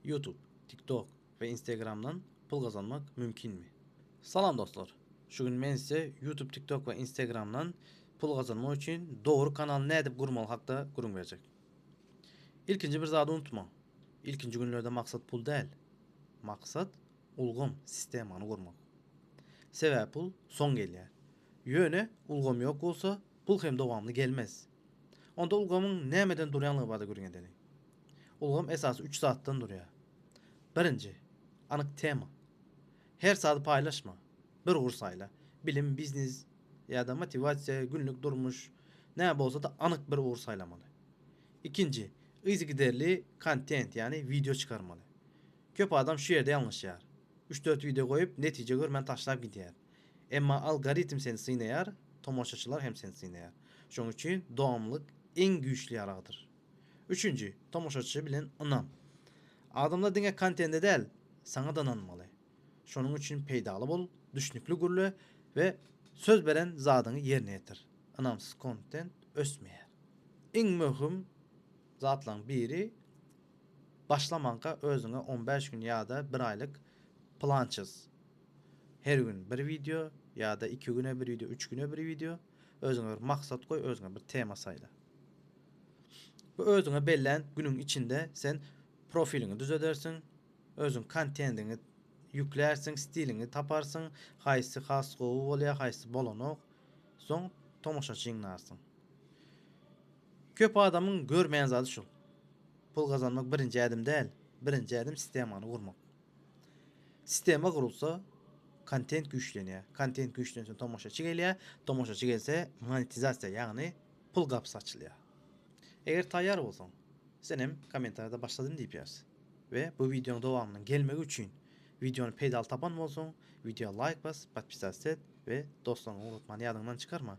Youtube, TikTok we Instagramdan pul gazanmak mümkinmi? Salam dostlar! Şu gün men size Youtube, TikTok we Instagramdan pul gazanmak üçin dogry kanaly nädip gurmaly hakda gürrüň berjek. Ilkinji bir zady unutmaň, ilkinji günlerde maksat pul däl, maksat ulgam, sistemany gurmak. Sebäbi pul soň gelýär. Ýöne ulgam ýok bolsa, pul hem dowamly gelmez. Onda ulgamyň nämeden durýanlygy barada gürrüň edeliň. Ulgam esasy üç zatdan durýar. Birinji, anyk tema. Her sady paýlaşma, bir ugur saýla. Bilim, biznes ýa-da motiwasiýa, günlük durmuş, näme bolsa-da anyk bir ugur saýlamaly. Ikinji, yzygiderli kontent, ýagny wideo çykarmaly. Köp adam şu ýerde ýalňyşýar. Üç-dört wideo goýup, netije görmän taşlap gidýär. Emma algoritm seni synaýar, tomaşaçylar hem seni synaýar. Şonuň üçin dowamlylyk iň güýçli ýaragdyr. Üçünji, tomaşaçy bilen ynam. Adamlar diňe kontende däl, saňa-da ynanmaly. Şonuň üçin peýdaly bol, düşnükli gürle we söz beren zadyňy ýerine ýetir. Ynamsyz kontent ösmeýär. Iň möhüm zatlaryň biri, başlamanka özüňe on bäş gün ýa-da bir aýlyk plan çyz. Her gün bir wideo ýa-da iki güne bir wideo, üç güne bir wideo. Özüňe bir maksat goý, özüňe bir tema saýla. Bu özüňe bellän günüň içinde sen profiliňi düzedersiň, özüň kontendiňi ýüklärsiň, stiliňi taparsyň, haýsy has gowy bolýar, haýsy bolanok. Soň tomaşaçy jygnarsyň. Köp adamyň görmeýän zady şul. Pul gazanmak birinji ädim däl, birinji ädim sistemany gurmak. Sistema gurulsa, kontent güýçlenýär. Kontent güýçlense tomaşaçy gelýär. Tomaşaçy gelse monetizasiýa, ýagny pul gapysy açylýar. Eger taýýar bolsaň, sen hem kommentariýada başladym diýip ýaz. We bu wideonyň dowamynyň gelmegi üçin, wideony peýdaly tapan bolsaň, wideoa laýk bas, podpisatsyýa et we dostlaryňa ugratmany ýadyňdan çykarma.